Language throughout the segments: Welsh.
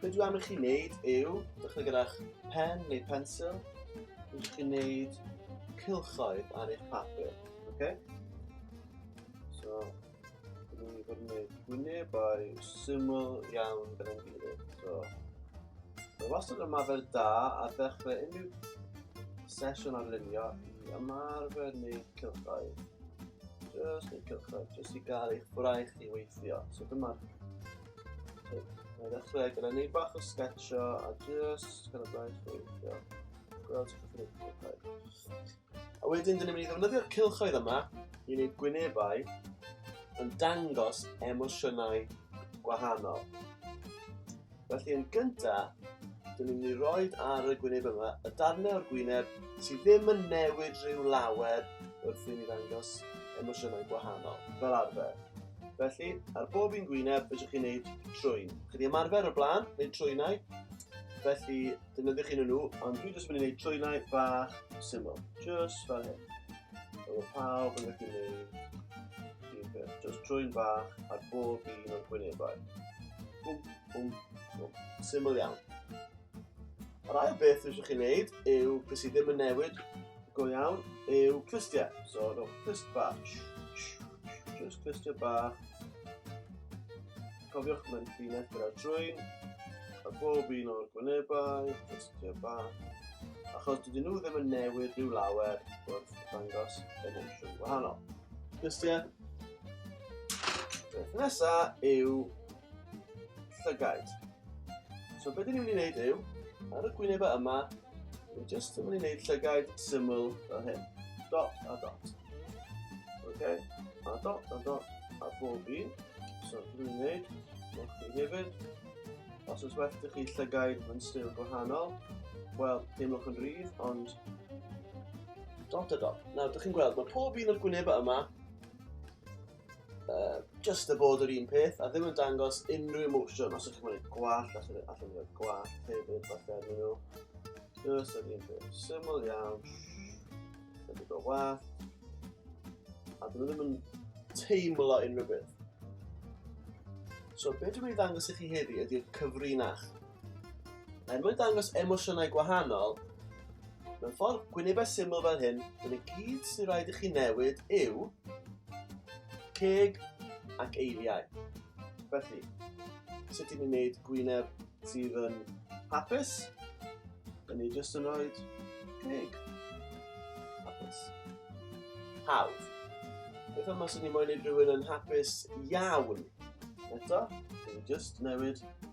Be dwi am i chi wneud yw, dechrau gyda'ch pen neu pensil, i chi wneud cilchoedd ar eich papur. Okay? So, dwi wedi bod yn gwneud gwynebau syml iawn gyda'n gilydd. So, mae wastad yn ymarfer da a ddechrau unrhyw sesiwn ar lunio i ymarfer neu cilchoedd. Just neu cilchoedd, just i gael eich braich i weithio. So dyma'r Mae'n dechrau gyda ni bach o sketcho a just gyda blaen chweithio. Gweld sut ydyn ni'n gwneud. A wedyn, dyn ni'n mynd i ddefnyddio'r cilchoedd yma i wneud gwynebau yn dangos emosiynau gwahanol. Felly yn gyntaf, dyn ni'n mynd i roi ar y gwyneb yma y darnau o'r gwyneb sydd ddim yn newid rhyw lawer wrth i ni ddangos emosiynau gwahanol, fel arfer. Felly, ar bob un gwyneb, fedrwch chi wneud trwyn. Chi wedi ymarfer o blaen, neu trwynau, felly defnyddiwch un o nhw, ond dwi jyst yn mynd i wneud trwynau bach syml, jyst fel hyn. Fel pawb yn gallu wneud un peth, jyst trwyn bach ar bob un o'r gwynebau. Bwm, bwm, bwm. Syml iawn. Yr ail beth rydych chi'n gwneud yw beth sydd ddim yn newid go iawn yw clustiau. So, rhowch clust bach. Just clustiau bach. Cofiwch mae'n ffyn edrych ar trwy'n a bob un o'r gwynebau, clustiau bach. Achos dydyn nhw ddim yn newid rhyw lawer wrth ddangos yn ensiwn gwahanol. Clustiau. Beth nesaf yw llygaid. So beth ni'n mynd i wneud yw, ar y gwynebau yma, ni'n just yn mynd i wneud llygaid syml o hyn. Dot a dot. Okay? A dot a dot a bob un. So dwi'n gwneud, newch chi hefyd. Os oes werth i chi llygaid yn styl gwahanol, wel, teimlwch yn rhydd, ond dot a dot. Nawr, dych chi'n gweld, mae pob un o'r gwynebau yma Uh, just y bod yr un peth, a ddim yn dangos unrhyw emosiwn os ydych chi'n gwneud gwall, allan ni'n gwneud gwall hefyd, falle yn nhw. Just yr un peth, syml iawn, ddim yn wath, a dyn nhw ddim yn teimlo unrhyw beth. So, beth dwi'n mynd i ddangos i chi heddi ydy'r cyfrinach. Er mwyn dangos emosiynau gwahanol, mewn ffordd gwynebau syml fel hyn, yn y gyd sy'n rhaid i chi newid yw ceg ac eiliau. Felly, sut i ni wneud gwyneb sydd yn hapus? Yn ni jyst yn rhoi ceg. Hapus. Hawdd. Beth am os ydyn ni moyn wneud rhywun yn hapus iawn? Eto, yn ni jyst newid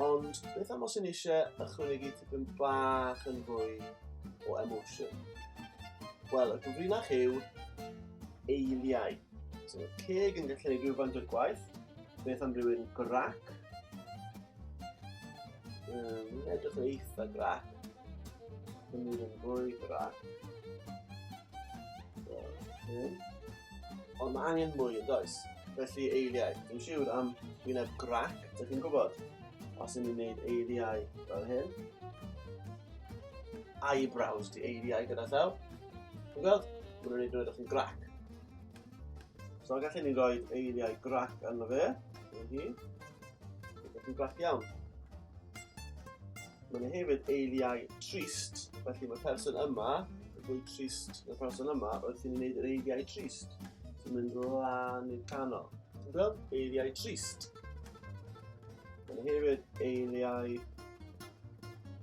Ond beth am os yn eisiau ychwanegu tipyn bach yn fwy o emotion? Wel, y gyfrinach yw eiliau. So, ceg yn gallu gwneud rhywfaint o'r gwaith. Beth am rhywun grac? Um, edrych yn eitha grac. Yn mynd yn fwy grac. So, hyn. Ond mae angen mwy yn does? Felly eiliau, dwi'n siŵr am wyneb grac, dych chi'n gwybod? Os ydyn ni'n gwneud eiliau fel hyn, eyebrows di eiliau gyda llaw, ti'n gweld? Mae'n rhaid dweud o'ch chi'n grac. So gallwn ni roi eiliau grac arno fe, yn hi. Ydych chi'n grac iawn. Mae'n hefyd eiliau trist, felly mae'r person yma yn fwy trist na'r person yma wrth i ni wneud yr eiliau trist. Ti'n mynd lan i'r canol. Ti'n gweld? Eiliau trist. Mae'n hefyd eiliau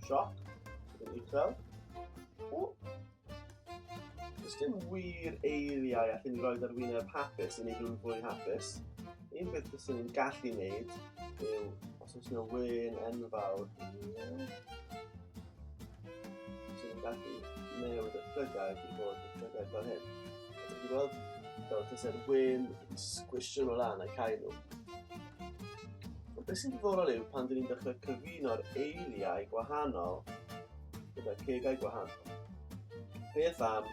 sioc, yn uchel. O, Does dim wir eiliau allan ni roed ar wyneb hapus i wneud rhywun fwy hapus. Un peth bys ni'n gallu wneud yw os oes yna wyn enfawr. Os ni'n gallu newid y llygau i fod y llygau fel hyn. Dwi'n gweld fel tysau'r wyn yn sgwisio nhw lan ac cael nhw. Ond beth sy'n diddorol yw pan dyn ni'n dechrau cyfuno'r eiliau gwahanol gyda cegau gwahanol. Beth am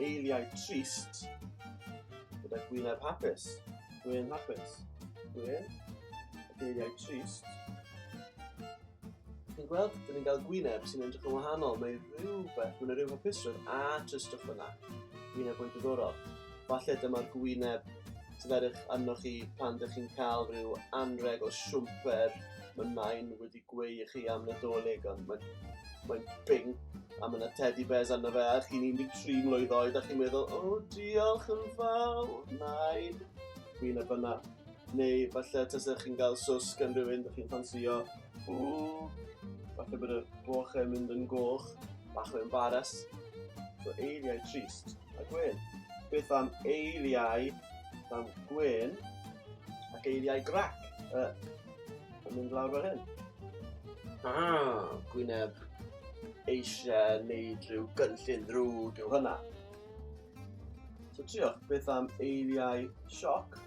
eiliau trist gyda gwyneb hapus? Gwyn hapus. Gwyn, ac eiliau trist. Chi'n gweld, dyn ni'n cael gwyneb sy'n edrych yn wahanol. Mae rhywbeth, mae'n rhyw hapusrwydd a tristwch yna. Gwyneb o'i diddorol. Falle dyma'r gwyneb sydd edrych arnoch chi pan ydych chi'n cael rhyw anreg o siwmper mae nain wedi Gwe i chi am Nadolig, ond mae'n mae bing a mae yna teddy bears arno fe a chi'n 13 mlwydd oed a chi'n meddwl, o oh, diolch yn fawr, nain. Fi'n y byna. Neu falle tasa chi'n cael sws gan rhywun da chi'n ffansio. Ww, falle bod y boch yn mynd yn goch, bach o embaras. So eiliau trist a gwen. Beth am eiliau am gwen ac eiliau grac? Uh, Yn mynd lawr fel hyn. Ah, gwyneb eisiau neud rhyw gynllun ddrwg yw hynna. So trio, beth am eiriau sioc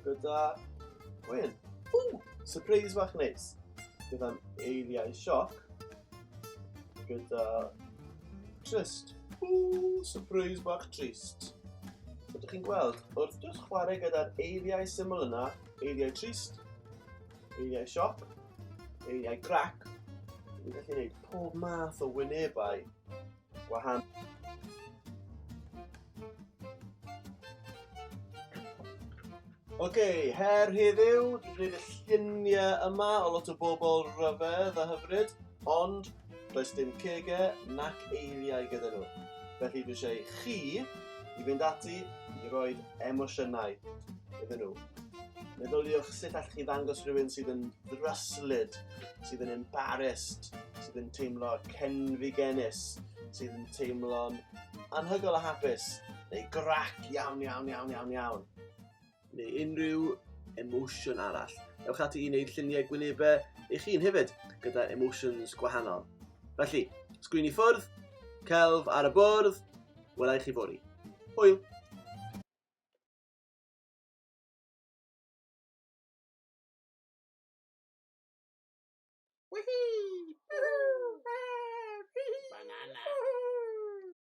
gyda gwyn? Ww, surprise fach neis. Beth am eiriau sioc gyda trist? Ww, surprise bach trist. Ydych chi'n gweld, wrth jyst chwarae gyda'r eiriau syml yna, eiriau trist, eiriau sioc, eiriau grac. Dwi'n gallu gwneud pob math o wynebau gwahanol. Oce, okay, her heddiw, dwi'n gwneud y lluniau yma o lot o bobl rhyfedd a hyfryd, ond Does dim cege nac eiriau gyda nhw. Felly dwi eisiau chi i fynd ati i roi emosiynau iddyn nhw. Meddyliwch sut allwch chi ddangos rhywun sydd yn ddryslyd, sydd yn embarrassed, sydd yn teimlo cenfigenus, sydd yn teimlo'n anhygol a hapus, neu grac iawn, iawn, iawn, iawn, iawn. neu unrhyw emosiwn arall. Ewch ati i wneud lluniau gwynebau eich hun hefyd, gyda emotions gwahanol. Felly, sgwini ffwrdd, celf ar y bwrdd, welai chi fori. Hwyl! Woohoo! Woohoo! Banana! Woohoo!